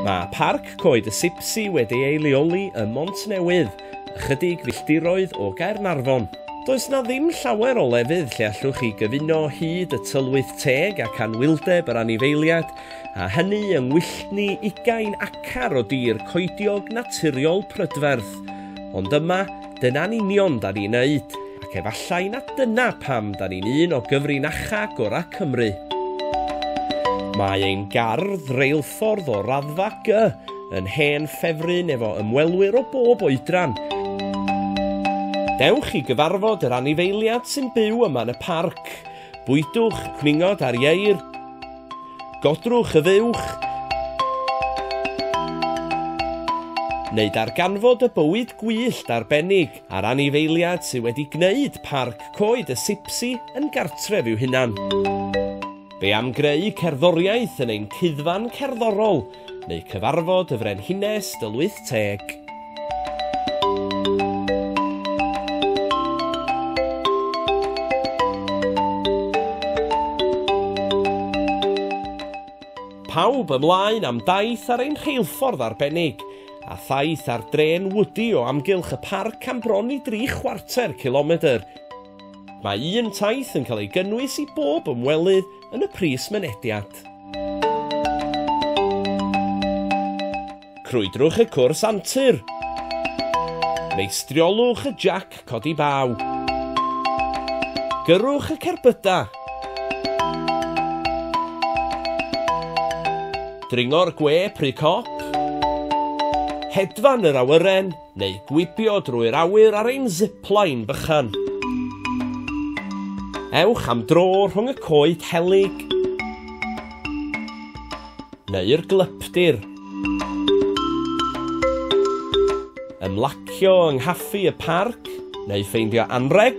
Mae Parc Coed y Sipsi wedi ei leoli ym Montnewydd, ychydig filltiroedd o Gaernarfon. Does na ddim llawer o lefydd lle allwch chi gyfuno hyd y tylwyth teg ac anwyldeb yr anifeiliad, a hynny yng ngwylltni ugain acar o dir coediog naturiol prydferth. Ond yma, Dyna'n union da ni'n neud, ac efallai na dyna pam da ni'n un o gyfrinacha gora Cymru. Mae ein gardd reilffordd o raddfa G yn hen ffefryn efo ymwelwyr o bob oedran. Dewch i gyfarfod yr anifeiliad sy'n byw yma yn y parc. Bwydwch cwningod ar ieir. Godrwch y fuwch. Neu darganfod y bywyd gwyllt arbennig a'r anifeiliad sydd wedi gwneud Parc Coed y Sipsi yn gartref i'w hunan. Be am greu cerddoriaeth yn ein cuddfan cerddorol neu cyfarfod y Frenhines Dŷl Wyth Teg. pawb ymlaen am daith ar ein rheilffordd arbennig, a thaith ar dren wydi o amgylch y parc am bron i dri chwarter cilomedr. Mae un taith yn cael ei gynnwys i bob ymwelydd yn y pris mynediad. Crwydrwch y cwrs antur. Meistriolwch y jac codi baw. Gyrwch y cerbydau. Dringo'r gwe pry cop. Hedfan yr awyren. neu gwibio drwy'r awyr ar ein zipline bychan. Ewch am dro rhwng y coed helyg neu'r glypdir. Ymlacio yng nghaffi y parc neu ffeindio anrheg